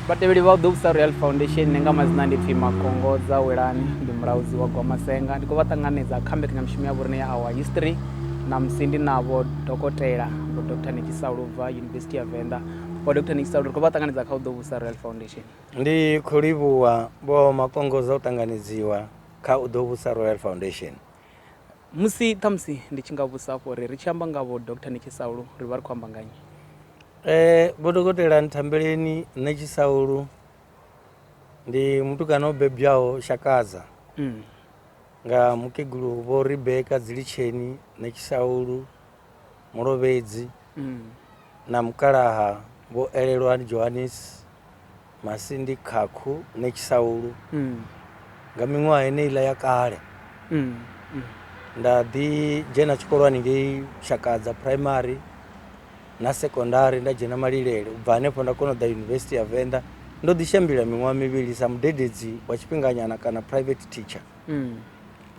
Vhatevheli vha u ḓo vhusa Royal Foundation nga madzina ndi pfi Makongo dza Welani ndi mulaudzi wa Gwamasenga ndi khou vha ṱanganedza kha mbekanyamushumo ya vhorine ya Our History na musi ndi navho dokotela vho Dr Nekisa Lubva University ya Venḓa vho Dr Nekisa Lubva ri khou vha ṱanganedza kha u ḓo vhusa Royal Foundation ndi khou livhuwa vho Makongo dza u ṱanganedziwa kha u ḓo vhusa Royal Foundation Musi ṱhamusi ndi tshi nga vhusa afho uri ri tshi amba nga vho Dr Netshisaulu ri vha ri khou amba nga nnyi? Eh, Vho Dokotela Nthambeleni Netshisaulu ndi mutukana o bebwaho Shakaza Mm. nga mukegulu Vho Rebecca Dzilitsheni Netshisaulu Mulovhedzi Mm. na mukalaha Vho Elelwani Johannes Masindi Khakhu Netshisaulu mm. nga miṅwaha heneiḽa ya kale mm. Mm. nda ḓi dzhena tshikolwani ngei shakadza primary na secondary nda dzhena malilele u bva hanefho nda kona u ḓa yunivesithi ya venḓa ndo ḓi shambila miṅwaha mivhili sa mudededzi wa tshifhinganyana kana private teacher mm.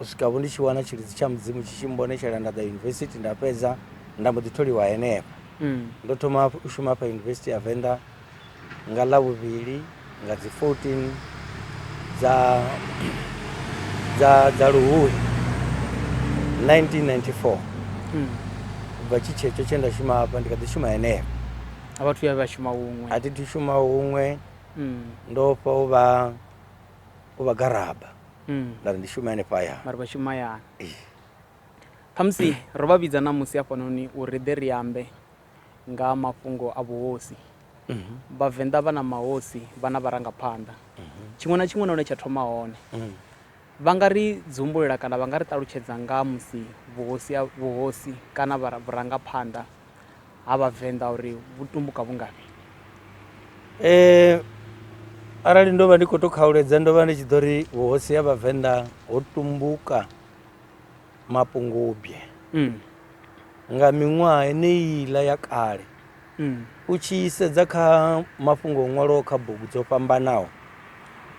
u swika vho ndi tshi wana tshilidzi tsha mudzimu tshi tshi mbonetshela nda ḓa yunivesithi nda fhedza nda mbo ḓi tholiwa henefho mm. ndo thoma u shuma fha yunivesithi ya venḓa Nga Ḽavhuvhili nga dzi 14 dza dza dza Luhuhi 1994 ubva tshi tshetsho tshe nda shuma hafha ndi kha ḓi shuma henefha. A vha thu ya vha shuma huṅwe? A thi thu shuma huṅwe ndo fha u vha u vha garaba nda ri ndi shume hanefha hayani. Vha ri vha shuma hayani. Khamusi ro vha vhidza ṋamusi hafhanoni uri ri ḓe ri ambe nga ha mafhungo a vhuhosi. Vhavenḓa vha na mahosi, vha na vharangaphanḓa. Tshiṅwe na tshiṅwe na hune tsha thoma hone. Vha nga ri dzumbulela kana vha nga ri ṱalutshedza nga ha musi vhuhosi ha, vhuhosi kana vhara, vhurangaphanḓa ha Vhavenḓa uri vhu tumbuka vhu ngafhi? Arali ndo vha ndi khou tou khauledza ndo vha ndi tshi ḓo ri vhuhosi ha Vhavenḓa ho tumbuka. Mapungubwe. Mm. Nga miṅwaha eneiiḽa ya kale, mm. u tshi sedza kha mafhungo o ṅwalwaho kha bugu dzo fhambanaho,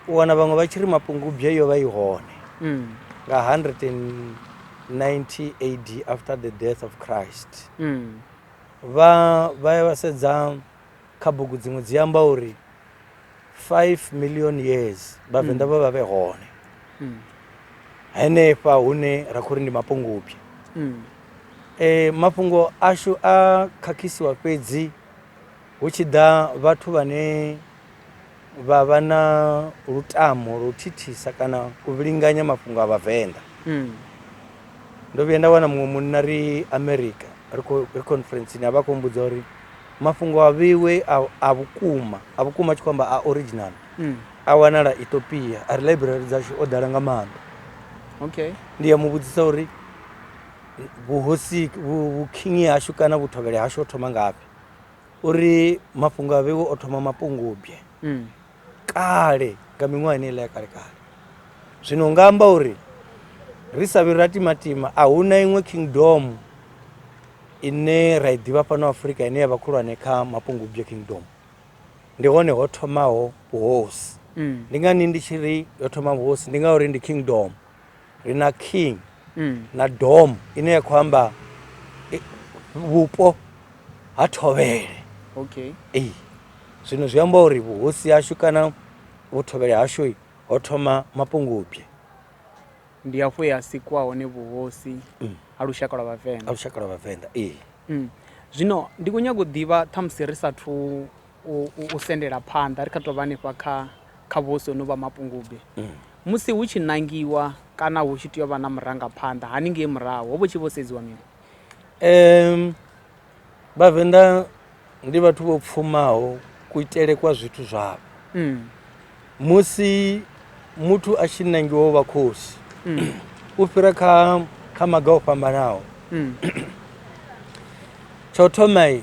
u wana vhaṅwe vha tshi ri Mapungubwe yo vha i hone mm. nga 190 AD after the death of Christ. Mm. Vha vha ya vha sedza Kha bugu dziṅwe dzi amba uri 5 million years vhavenḓa vha vha vhe hone henefha hune ra khou ri ndi mapungubye um mafhungo ashu a khakhisiwa fhedzi hu tshi ḓa vhathu vhane vha vha na lutamo lwa u thithisa kana u vhilinganya mafhungo a vhavenḓa mm. ndo vhuya nda wana muṅwe munna ri america ri conferenceni a vha khou mbudza uri mafhungo a vheiwe a vhukuma a vhukuma a tshi khou amba a original mm. a wanala ethiopia a ri library dzashu o ḓala nga maanḓa okay. ndi ya mu vhudzisa uri vhuhosi vhukhingi hashu kana vhuthovhele hashu o thoma ngafhi Uri mafhungo a vhewe o thoma mapungubye mm. kale nga miṅwaha ine iḽa ya kale kale zwino nga amba uri ri sa vhi ra timatima a hu na iṅwe kingdom ine ra i ḓivha fhano afurika ine ya vha khulwane kha mapungubye kingdom ndi hone ho thomaho vhuhosi mm. ndi ngani ndi tshi ri yo thoma vhuhosi ndi ngauri ndi kingdom mm. ri na king mm. na dom ine ya khou amba eh, vhupo ha thovhele okay. ee zwino zwi amba uri vhuhosi hashu kana vhuthobele hashu ho thoma mapungubye ndi hafho he ha sikwa hone vhuhosi mm. ha lushaka lwa vhavenḓa ha lushaka lwa vhavenḓa ee mm. zwino ndi khou nyaga u ḓivha ṱhamusi ri sathu u sendela phanḓa, ri kha tou vha hanefha kha kha vhuhosi honovhu ha Mapungubwe, musi hu tshi ṋangiwa kana hu tshi tea u vha na murangaphanḓa haningei murahu, ho vha hu tshi vho sedziwa mini? Vhavenḓa ndi vhathu vho pfumaho kuitele kwa zwithu zwavho. musi muthu a tshi nangiwa u vha khosi mm. u fhira kha kha maga o fhambanaho mm. tsho thomai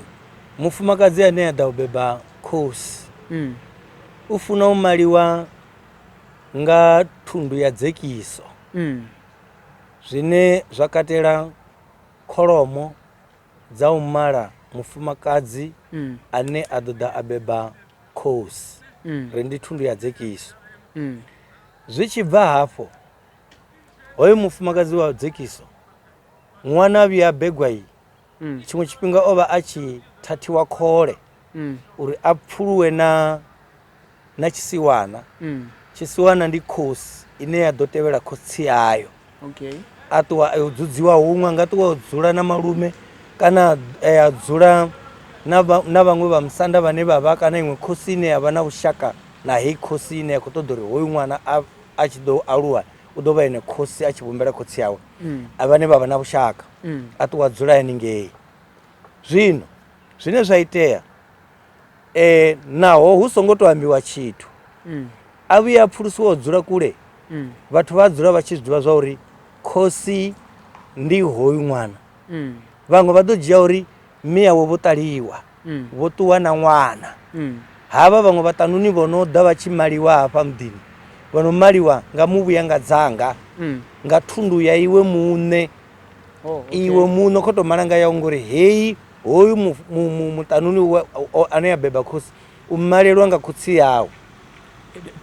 mufumakadzi ane a ḓa u beba khosi mm. u funa u maliwa nga thundu ya dzekiso mm. zwine zwa katela kholomo dza u mala mufumakadzi mm. ane a ḓoḓa a beba Khosi ri ndi thundu ya dzekiso. Zwi tshi bva hafho, hoyo mufumakadzi wa dzekiso, ṅwana a vhuya a begwa i, tshiṅwe tshifhinga o vha a tshi thathiwa khole uri a pfuluwe na na tshisiwana. Tshisiwana ndi khosi ine ya ḓo tevhela khotsi ayo. okay a ṱuwa a yo dzudziwa huṅwe nga ṱuwa o dzula na malume kana eh, a dzula na vha- na vhaṅwe vha musanda vhane vha vha kana iṅwe khosi ine ya vha na vhushaka na heyi khosi ine ya khou ṱoḓa uri hoyu ṅwana a a tshi ḓo aluwa u ḓo vha ene khosi a tshi vhumbela khotsi yawe a vhane vha vha na vhushaka a ṱuwa a dzula haningei zwino zwine zwa itea E, naho hu songo tou ambiwa tshithu mm. a vhuye a pfulusiwa u dzula kule mm. vhathu vha dzula vha tshi zwi ḓivha zwa uri khosi ndi hoyu ṅwana mm. vhaṅwe vha ḓo dzhia uri mme yawe vho ṱaliwa mm. vho ṱuwa na ṅwana mm. havha vhaṅwe vhaṱanuni vho no ḓa vha tshi maliwa hafha muḓini vho no maliwa nga muvhuya nga dzanga mm. nga thundu ya iwe muṋe Oh, okay. iwe muṋe kho to malanga yau ngori heyi hoyu muṱanuni ane ya beba khosi u malelwa nga khotsi yawe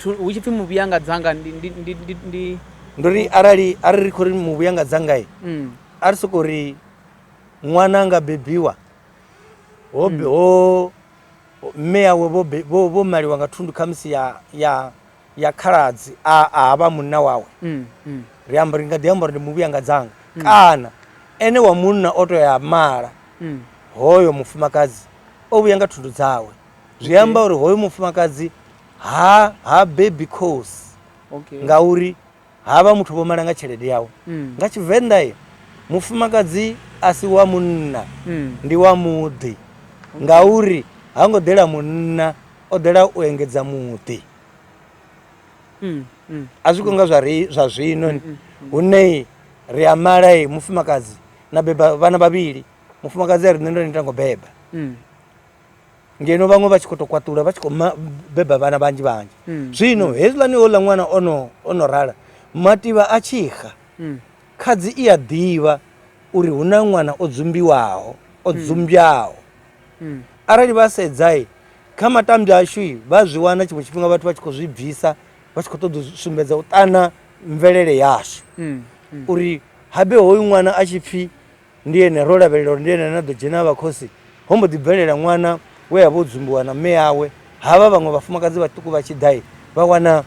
hu tshi pfi muvhuya nga dzanga ndi nduri arali a ri ri khou ri muvhuya nga dzangai mm. a ri sokou ri ṅwana nga bebiwa ho mm. ho mme yawe vho maliwa nga thundu khamusi ya ya ya khaladzi a a ha vha munna wawe mm, mm. ri amba ri nga ḓi amba uri ndi muvhuya nga dzanga mm. kana ene wa munna o to ya mala mm. hoyo mufumakadzi o vhuya nga thundu dzawe zwi amba uri hoyo mufumakadzi ha ha baby cause okay. ngauri Ha vha muthu vho mala nga tshelede yawe. Mm. Nga Tshivenḓa e mufumakadzi a si wa munna mm. ndi wa muḓi ngauri ha ngo ḓela munna o ḓela u engedza muḓi. Mm, mm. A zwi konga zwa ri zwa zwino mm, mm, mm. hune ri a mala e mufumakadzi na beba vhana vhavhili mufumakadzi a ri nṋe ndo ni tango beba. Mm. ngeno vhaṅwe vha tshi khou tou kwaṱula vha tshi khou beba vhana vhanzhi vhanzhi mm. zwino mm. hezwiḽani houḽa ṅwana ono ono rala mativha a tshi xa mm. khadzi i a ḓivha uri hu na ṅwana o dzumbiwaho o dzumbyaho arali vha sedzai kha matambya ashu vha zwi wana tshiṅwe tshifhinga vhathu vha tshi khou zwi bvisa vha tshi khou ṱoḓa u sumbedza u ṱana mvelele yashu uri habe hoyu ṅwana a tshi pfhi Ndi ene, ro lavhelela uri ndi ene ane a ḓo dzhena a vha khosi. Ho mbo ḓi bvelela ṅwana we a vha o dzumbiwa na mme awe. Havha vhaṅwe vhafumakadzi vhaṱuku vha tshi ḓa, vha wana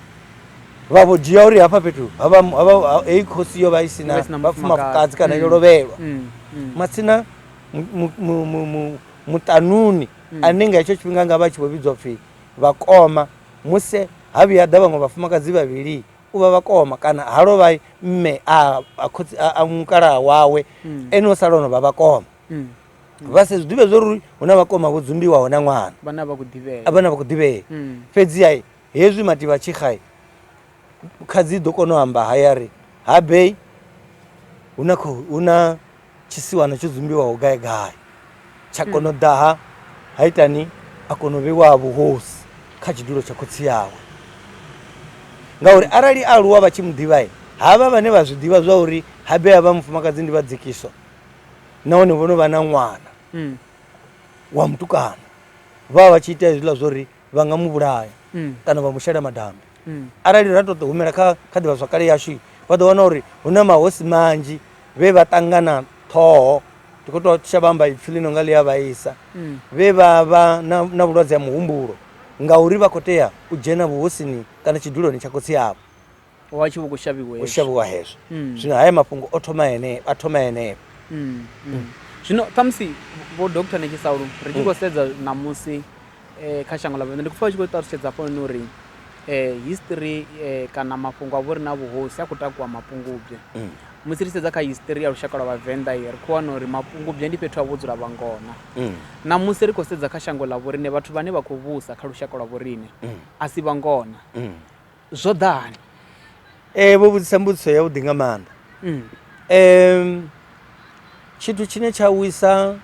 vha vho dzhia uri hafha fhethu heyi khosi yo vha i si na vhafumakadzi kana yo mm. lovhelwa mm. mm. matsina muṱanuni ane nga hetsho tshifhinga nga vha tshi vho vhidzwa pfhi vhakoma musi ha vhuya ḓa vhaṅwe vhafumakadzi vhavhili u vha vhakoma kana ha lovha mme a mukalaha wawe mm. ene o sala ono vha vhakoma mm. vha se zwi ḓivhe zwo ri hu na vhakoma vho dzumbiwaho na ṅwana vhane a vha khou ḓivhea mm. fhedziha hezwi mativha tshikhae kha dzi ḓo kona u amba hayari ha bei hu na Tshisiwana tsho dzumbiwaho gai gai tsha hmm. kona u ḓa ha ha itani a kona u vheiwa ha vhuhosi kha tshidulo tsha khotsi yawe ngauri arali a aluwa vha tshi mu ḓivhae havha vhane vha zwi ḓivha zwa uri habe ha vha mufumakadzi ndi vha dzikiso nahone vho no vha na ṅwana hmm. wa mutukana vha vha vha tshi ita hezwiḽa zwa uri vha nga mu vhulaya mm. kana vha mu shela madambi mm. arali ra tou humela kha kha ḓivhazwakale yashu vha ḓo wana uri hu na mahosi manzhi vhe vha ṱangana ṱhoho ndi khou tou tsha vhamba ipfhi ḽino nga ḽi a vhaisa mm. vhe vha vha na vhulwadze ha muhumbulo ngauri vha khou tea u dzhena vhuhosini kana tshiduloni tsha khotsi avho wa tshi vho khou shavhiwa u shavhiwa hezwo mm. zwino haya mafhungo o thoma ene a thoma eneo mm, mm. zwino khamusi vho doktor ni tshisaulu ri tshi khou sedza ṋamusi um kha shango ḽa vhona ndi khou pfa vha tshi khou ṱalutshedza hafhanoni uri um history um kana mafhungo a vho ri na vhuhosi a khou takuwa mapungubye musi ri sedza kha history ya lushaka lwa vhavenḓa i ri khou wana uri mapungubye ndi fhethu ha vho dzula vhangona mm. na musi ri khou sedza kha shango ḽa vhoriṋe vhathu vhane vha khou vhusa kha lushaka lwa vhoriṋe mm. a si vhangona mm. zwo ḓa hani um vho vhudzisa mbudziso yavhuḓi nga maanḓa um mm. tshithu tshine tsha wisa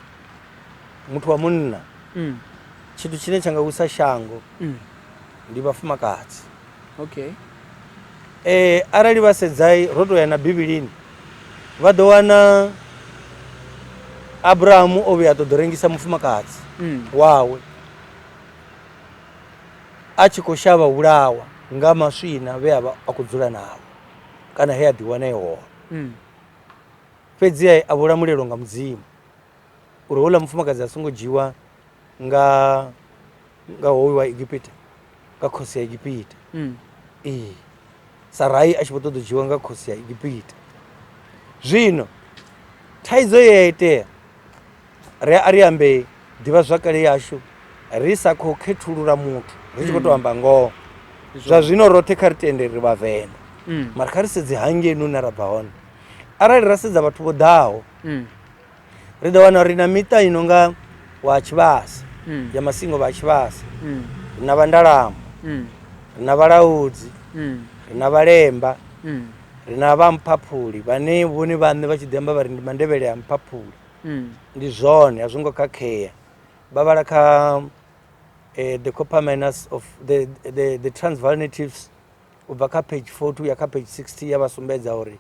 muthu wa munna mm. tshithu tshine tsha nga wisa shango mm. ndi vhafumakadzi okay eh arali vha sedzai ro to ya na bivhilini vha ḓo wana abrahamu o vhuya a ṱoḓo rengisa mufumakadzi mm. wawe a tshi khou shavha vhulawa nga maswina vhe a vha a khou dzula navho kana he a ḓiwana e hone hmm. fhedzi a vho lamulelwa nga mudzimu uri houḽa mufumakadzi a songo dzhiwa nga nga hoyu wa egipita nga khosi ya egipita hmm. ee sarai a tshi vho ṱoḓa u dzhiwa nga khosi ya egipita zwino thaidzo ye ya itea ri a ri ambe ḓivhazwakale yashu ri sa khou khethulula muthu ri tshi khou tou amba ngoho zwa zwino roṱhe kha ri tende ri vhavenḓa Mm. mara kha ri sedze hangei nune ra bva hone arali ra sedza vhathu vho ḓaho Mm. ri ḓo wana uri na miṱa i no nga wa tshivhasa mm. ya masingo vha tshivhasa mm. ri na vhandalamo mm. ri na vhalaudzi ri na vhalemba ri na vha mphaphuli vhane vhone vhaṋe vha tshi ḓi amba vha ri ndi mandevhele a mphaphuli ndi zwone a zwo ngo khakhea vha vhala kha eh, the copper minus of the, the, the transval natives u bva kha page 42 ya kha page 60 ya vha sumbedza uri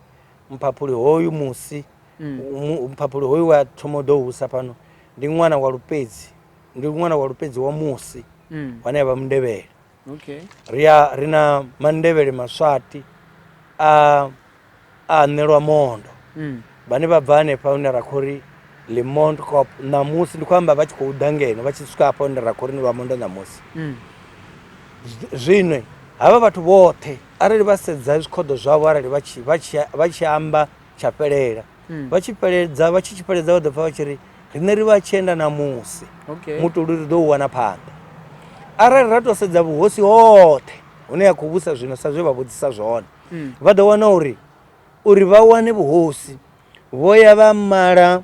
mphaphuli hoyu musi mphaphuli hoyu wa thoma u ḓo husa fhano ndi ṅwana wa lupedzi ndi ṅwana wa lupedzi wa musi wane ya vha mundevhele ri a ri na mandevhele maswati a a ṋelwa mondo vhane vha bva hanefha hune ra khou ri le mond cop ṋamusi ndi khou amba vha tshi khou ḓa ngeno vha tshi swika hafha hune ra khou ri ni vha mondo ṋamusi zwino havha vhathu vhoṱhe arali vha sedza zwikhoḓo zwavho arali vha tshi amba tsha fhelela hmm. vha tshi fheledza vha tshi tshi fheledza vha ḓo pfha vha tshi ri riṋe ri vha tshi enda na musi mutoli ri ḓo u wana phanḓa arali ra tou sedza vhuhosi hoṱhe hune ya khou vhusa zwino sa zwe vha vhudzisa zwone hmm. vha ḓo wana uri uri vha wane vhuhosi vho ya vha mala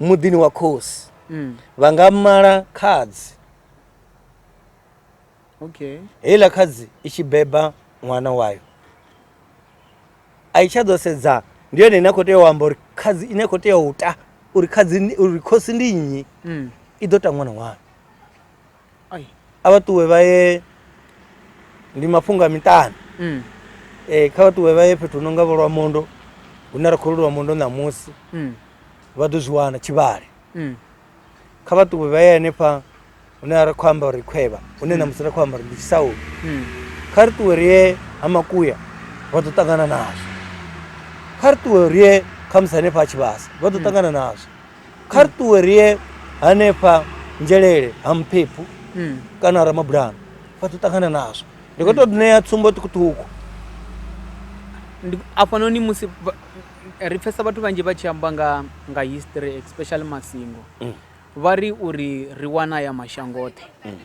muḓini wa khosi hmm. vha nga mala khadzi okay heiḽa khadzi i tshi beba ṅwana wayo a i tsha ḓo sedza ndi yone ine a khou tea u amba uri khadzi ine a khou tea u ta uri khadzi uri khosi ndi nnyi mm. i ḓo ta ṅwana wayo a vha ṱuwe vha ye ndi mafhungo a miṱani mm. e, kha vha ṱuwe vha ye fhethu hu no nga vho lwa mondo hune ra khou lulwa mondo ṋamusi mm. vha ḓo zwi wana tshivhale mm. kha vha ṱuwe vha ye hanefha hune a ri khou amba uri khwevha hune na musi ri khou amba uri ndi tshisaulu Mm. kha ri ṱuwe ri ye ha makuya vha ḓo ṱangana nazwo kha ri ṱuwe ri ye khamusi hanefha ha tshivhasa vha ḓo ṱangana nazwo kha ri ṱuwe ri ye hanefha nzhelele ha muphephu Mm. kana ramabulana vha ḓo ṱangana nazwo ndi khou tou ṋea tsumbo ṱhukhuṱhukhu Ndi- afhanoni musi vha- ri pfesa vhathu vhanzhi vha tshi amba nga nga history especially masingo mm. vha ri uri ri wana ya mashango oṱhe mm.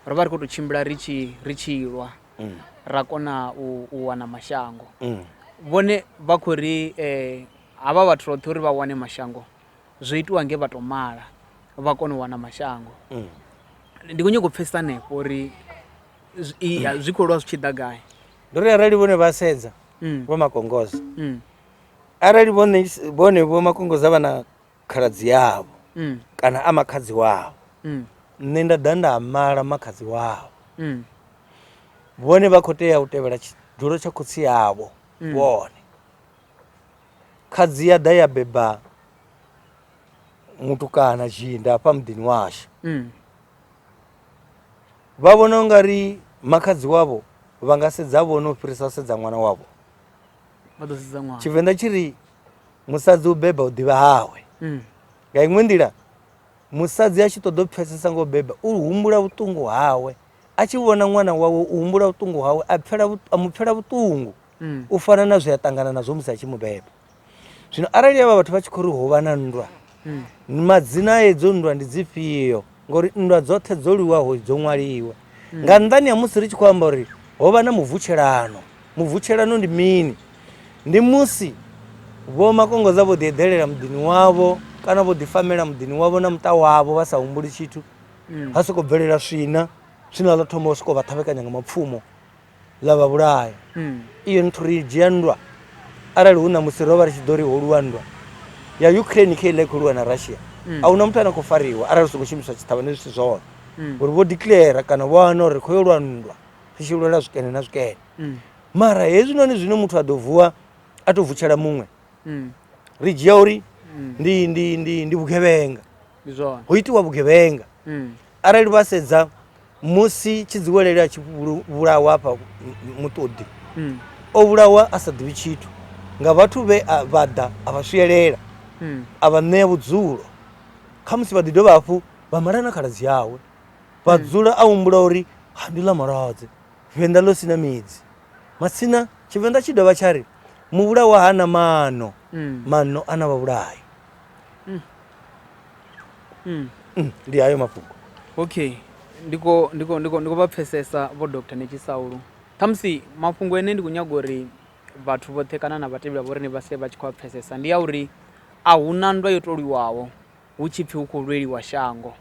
ro vha ri khou tou tshimbila ri tshi ri tshi lwa mm. ra kona u, u wana mashango mm. vhone vha khou ri eh, havha vhathu roṱhe uri vha wane mashango zwo itiwa nge vha tou mala vha kona u wana mashango mm. ndi khou nyoko u pfesa hanefho uri zwi khou lwa zwi tshi ḓa gai ndo ri arali vhone vha sedza Mm. vho makongoza Mm. arali vhone vhone vho makongoza vha na khaladzi yavho Mm. kana a makhadzi wavho Mm. nṋe nda ḓa nda mala makhadzi wavho Mm. vhone vha khou tea u tevhela tshidulo tsha khotsi yavho Mm. vhone khadzi ya ḓa ya beba mutukana zhinda hafha muḓini washu Mm. Vha vhona u nga ri makhadzi wavho vha nga sedza vhone u fhirisa u sedza ṅwana wavho vha ḓo sedza ṅwana tshivenḓa tshi ri musadzi u beba u ḓivha hawe mm. nga iṅwe nḓila musadzi a tshi ṱoḓa u pfesesa ngo beba u humbula vhuṱungu hawe a tshi vhona ṅwana wawe u humbula vhuṱungu hawe a mu pfela vhuṱungu mm. u fana na zwe a ṱangana nazwo musi a tshi mu beba zwino arali avha vhathu vha tshi khou ri hovha na nndwa hmm. madzina a edzo nndwa ndi dzifhio ngori nndwa dzoṱhe dzo lwiwaho dzo ṅwaliwa hmm. nga nnḓani ha musi ri tshi khou amba uri ho vha na mubvutshelano mubvutshelano ndi mini ndi musi vho makongoza vho ḓi eḓelela muḓini wavho kana vho ḓi famela muḓini wavho na muṱa wavho vha sa humbuli tshithu hmm. ha sokou bvelela swina swina ḽo thoma u sokou vha ṱhavhekanya nga mapfumo ḽa vha vhulaya. Iyo nthu ri i dzhia nndwa arali hu na musi ro vha ri tshi ḓo ri ho lwiwa nndwa ya Ukraine khe iḽa i khou lwiwa na Russia. A hu na muthu ane a khou fariwa arali hu songo shumiswa tshitshavha ndi zwithu zwone uri vho declare kana vho wana uri ri khou yo lwa nndwa ri tshi lwela zwikene na zwikene. Mara hezwinoni zwine muthu a ḓo vuwa a to vutshela muṅwe ri dzhia uri ndi ndi ndi ndi vhugevhenga. Ho itiwa vhugevhenga arali vha sedza musi tshidziwelele a tshi vhulawa hafha muṱoḓi hmm. o vhulawa a sa ḓivhi tshithu nga vhathu vhe vha ḓa a vha swielela hmm. a vha ṋea vhudzulo kha musi vha ḓi dovha hafhu vha mala na khaladzi yawe vha hmm. dzula a humbula uri ha ndi ḽa malwadze venḓa ḽo sina midzi matsina tshivenḓa tshi dovha tsha ri muvhulawa ha na mano mano a na vhavhulayi Mm. Mm. Mm, ndi ayo mafhungo okay ndiko ndiko ndiko ndiko vha pfesesa vho dr nechisaulu khamusi mafhungo ene ndi khou nyaga uri vhathu vhoṱhe kana na vhatevheli vho rine vha sie vha tshi khou a pfesesa ndi ya uri a hu na ndwa yo toliwaho hu tshi pfhi hu khou lweliwa shango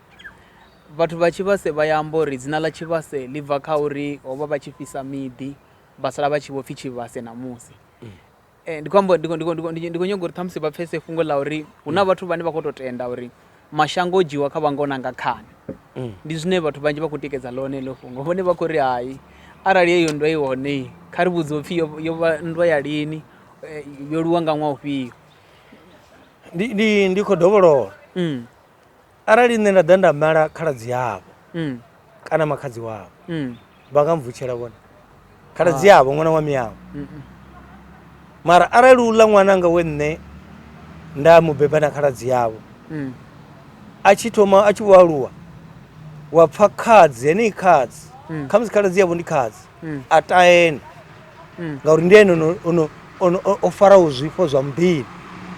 vhathu vha tshivhase vha ya amba uri dzina ḽa tshivhase ḽi bva kha uri ho vha vha tshi fhisa miḓi vha sala vha tshi vho pfhi tshivhase ṋamusi eh, ndi khou amba ndi khou nyaga uri ṱhamusi vha pfese fhungo ḽa uri hu na mm. vhathu vhane vha khou tou tenda uri mashango o dzhiwa kha vhangona nga khani mm. ndi zwine vhathu vhanzhi vha khou tikedza ḽone ḽo fhungo vhone vha khou ri hai arali yeyo nndwa i hone kha ri vhudze upfhi yo vha nndwa ya lini eh, yo luwa nga ṅwa ufhio ndi khou dovholola mm. arali nṋe nda ḓa nda mala khaladzi yavho mm. kana makhadzi wavho mm. vha nga mvutshela vhone khaladzi ah. yavho ṅwana wa miyavho mara arali u ḽa ṅwana nga we nṋe nda mu beba na khaladzi yavho mm. a tshi thoma a tshi vho aluwa wa pfa khadzi henei khadzi khamusi khaladzi yavho ndi khadzi mm. a taene mm. ngauri ndi ene o faraho zwifho zwa muḓini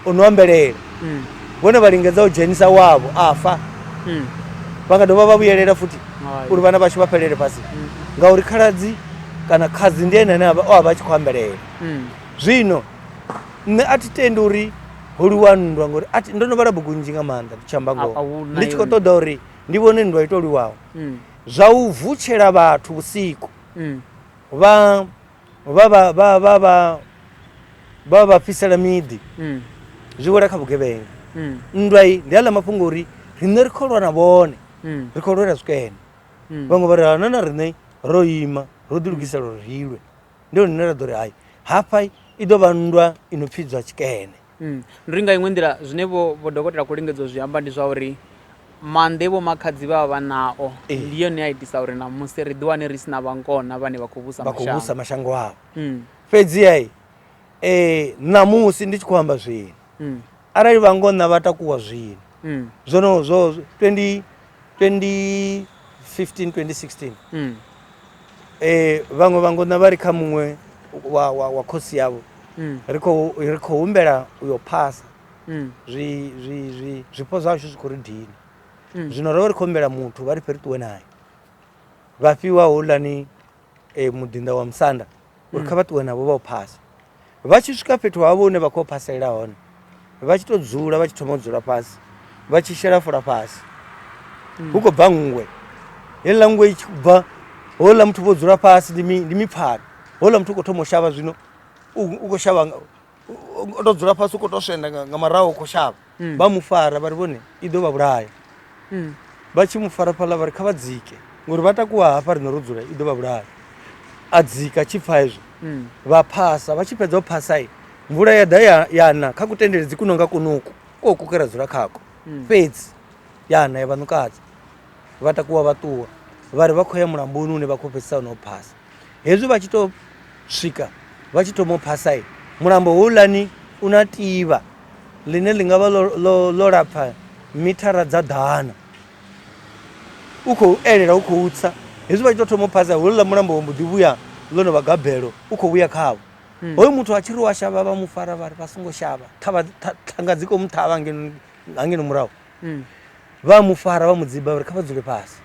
o no ambelela mm. vhone vha lingedza u dzhenisa wavho a fa mm. vha nga dovha vha vhuyelela futhi uri vhana vhashu vha fhelele fhasi mm. ngauri khaladzi kana khadzi ndi ene ane o a vha a tshi khou ambelela mm. zwino nṋe a thi tendi uri ho liwa nndwa ngori ndo no vhala bugu nnzhi nga maanḓa ndi tshi amba ngoho ndi tshi khou ṱoḓa uri ndi vhone nndwa ito liwaho mm. Zwa u vutshela vhathu vhusiku vha vha vha fhisela miḓi zwi wela kha vhugevhenga. Nndwa iyi ndi a ḽa mafhungo uri riṋe ri khou lwa na vhone, ri khou lwela zwikene. Vhaṅwe vha ri hana na riṋe ro ima ro ḓi lugisela uri ri lwe. Ndi hone hune ra ḓo ri hai hafha i ḓo vha nndwa i no pfidzwa tshikene. Ndi uri nga iṅwe nḓila zwine vho vho dokotela khou lingedza u zwi amba ndi zwa uri maanḓa e vho makhadzi vha vha vha nao ndi yone a itisa uri ṋamusi ri ḓiwane ri si na vhankona vhane vha khou vhusa vha khou vhusa mashango avho fhedziha um ṋamusi ndi tshi khou amba zwino arali vhangona vha takuwa zwino mm. zwo no zwo 20 2015 2016 mm. eh vhaṅwe vhangona vha ri kha muṅwe wa wa wa khosi yavho mm. ri khou ri khou humbela u yo phasa mm. zwi zwi zwi zwipho zwashu zwi khou ri dini mm. zwino ro vha ri khou humbela muthu vha ri fhe ri ṱuwe naye vha fhiwa hulani e, muḓinḓa wa musanda uri kha vha ṱuwe navho vha u phasa vha tshi swika fhethu havho hune vha khou phaselela hone vha tshi tou dzula vha tshi thoma u dzula fhasi vha tshi shela fula fhasi hu khou bva nngwe heiḽa nngwe i tshi khou bva houḽa muthu vho dzula fhasi ndi mi- ndi mipfhano houḽa muthu u khou thoma u shavha zwino u u khou shavha nga- o to dzula fhasi u khou to swenda nga murahu u khou shavha hmm. vha mu fara vha ri vhone i ḓo vha vhulaya hmm. vha tshi mu fara fhaḽa vha ri kha vha dzike ngori vha takuwa hafha riṋe ro dzula i ḓo vha vhulaya a dzika tshi pfa hezwo hmm. vha phasa vha tshi fhedza u phasa i mvula ya ḓa ya na kha kutendele dzi kuno nga kunuku ko kukera dzula khako fhedzi ya na ya vhanukadza vha takuwa vha ṱuwa vha ri vha khou ya mulamboni une vha khou fhedzisa no phasa Hezwi vha tshi tou swika vha tshi thoma u phasa mulambo houḽani u na tivha ḽine ḽi nga vha ḽo lapfa mithara dza ḓana u khou elela u khou tsa hezwi vha tshi tou thoma u phasa houḽa mulambo wo mbo ḓi vhuya ḽo no vha gabelo u khou vhuya khavho hmm. hoyu muthu a tshi ri wa shavha vha mu fara vha ri vha songo shavha ṱhanga dzi khou mu ṱhavha ngeno murahu hmm. vha mu fara vha mu dziba uri kha vha dzule fhasi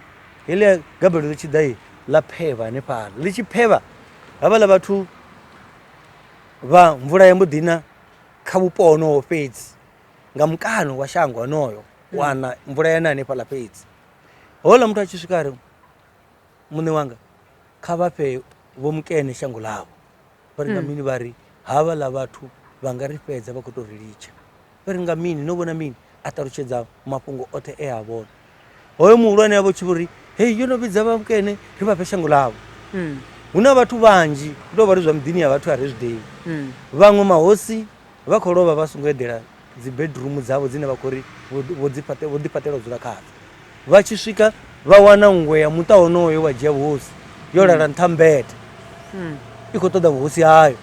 heḽia gabelo ḽi tshi ḓa ḽa phevha hanefhala ḽi tshi phevha havhaḽa vhathu vha mvula ya mbo ḓina kha vhupo honoho fhedzi nga mukano wa shango honoyo hmm. wana mvula yana hanefhala fhedzi hola muthu a tshi swika ri muṋe wanga kha vha fhe vho mukene shango ḽavho vha ri nga hmm. mini vha ri havhaḽa vhathu vha nga ri fhedza vha khou tou ri litsha vha ri, Nga mini? No vhona mini? A ṱalutshedza mafhungo oṱhe e a vhona. Hoyo muhulwane a vho tshi vho ri, Hei, yo no vhidza vhakene ri vha fhe shango ḽavho. Mm. Hu na vhathu vhanzhi, ndo vha ri zwa muḓini ya vhathu a ri zwi ḓivhi. Mm. Vhaṅwe mahosi vha khou lovha vha songo eḓela dzi bedroom dzavho dzine vha khou ri vho dzi fhaṱe vho ḓi fhaṱela u dzula khadzo. Vha tshi swika vha wana nngwe ya muṱa wonoyo wa dzhia vhuhosi yo lala mm. nṱha mbete. Mm. I khou ṱoḓa vhuhosi hayo.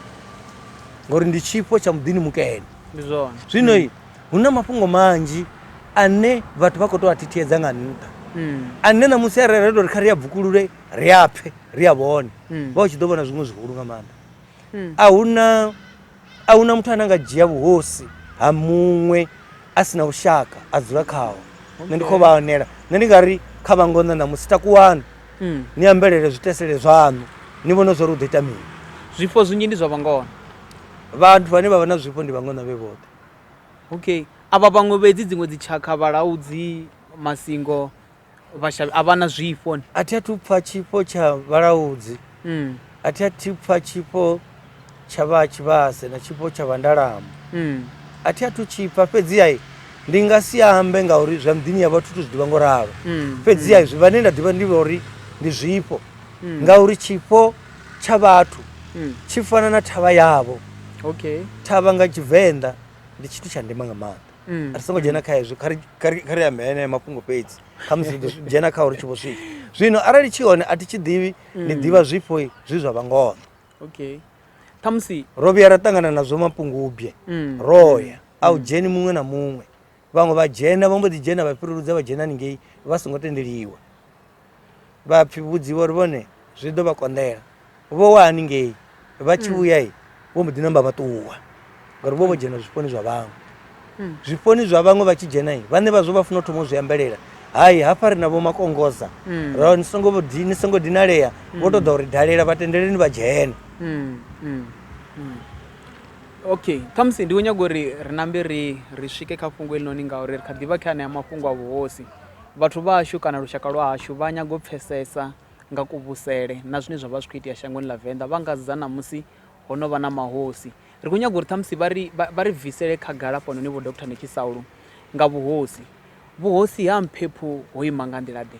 Ngori ndi tshifho tsha muḓini mukene. ndi zwone zwino mm. hu na mafhungo manzhi ane vhathu vha khou tou a thithiedza nga nṱha mm. ane na musi arali ri tou ri kha ri a bvukulule ri a pfhe ri a vhone mm. vha u tshi ḓo vhona zwiṅwe zwihulu nga maanḓa mm. a huna a huna muthu ane a nga dzhia vhuhosi ha muṅwe a si na vhushaka a dzula khaho nṋe ndi khou vha anela nṋe ndi nga ri kha vhangonṋa na musi takuwani mm. ni ambelele zwitesele zwaṋu ni vhone zwori u ḓo ita mini zwifho zwinzhi ndi zwa vhangona Vhathu vhane vha vha na zwifho ndi vhangana vhe vhoṱhe. Okay. A vha vhaṅwe vhedzi dziṅwe dzitshakha, vhalaudzi, masingo, vhashavhi a vha na zwifho? A thi athu pfa tshifho tsha vhalaudzi. Mm. A thi athu pfa tshifho tsha vha tshivhase na tshifho tsha vhandalamu. Mm. A thi athu tshipfa fhedzi ai ndi nga si ambe ngauri zwa mdini ya vhathu tu zwi ḓivha ngo ralo. Mm. Fhedzi ai mm. zwi vhane nda ḓivha ndi vhori ndi zwifho. Mm. Ngauri tshifho tsha vhathu hmm. tshi fana na thavha yavho okay thavha nga tshivenḓa ndi tshithu tsha ndima nga maanḓa hmm. ri songo dzhena kha hezwo kha ri ambe enea mafhungo fhedzi khamusi ri dzhena kha uri tshi vho swika zwino arali tshi hone a thi tshi ḓivhi ndi hmm. ḓivha zwifho zwi zwa vhangono okay khamusi ro vhuya ra ṱangana nazwo mapungubye ro ya a u dzheni muṅwe na muṅwe vhaṅwe vha dzhena vha mbo ḓi dzhena vha fhiruludza vha dzhena haningei vha songo tendeliwa vha pfi vhudziwa uri vhone zwi ḓo vha konḓela vho wa haningei vha tshi vhuya i vho mbo ḓi namba vha ṱuwa ngauri vho vho dzhena zwifhoni zwa vhaṅwe zwifhoni zwa vhaṅwe vha tshi dzhena i vhane vha zwo vha funa u thoma u zwi ambelela hai hafha ri na vho makongosa ra ni songo di- ni songo dinalea vho tou ḓa uri dalela vha tendeleni vha dzhene Mm, mm, mm. okay khamusi ndi khou nyaga uri ri nambe ri ri swike kha fhungo elinoni ngauri ri kha ḓivha kha anea mafhungo a vhuhosi Vhathu vha hashu kana lushaka lwa hashu vha nyaga u pfesesa nga kuvhusele na zwine zwa vha zwi khou itea shangoni ḽa Venḓa, vha nga sedza ṋamusi ho no vha na mahosi. Ri khou nyaga uri ṱhamusi vha ri vha ri bvisele khagala hafhanoni Vho Doctor ni tshi Saulu nga vhuhosi. Vhuhosi ha Mphephu ho ima nga nḓila ḓe?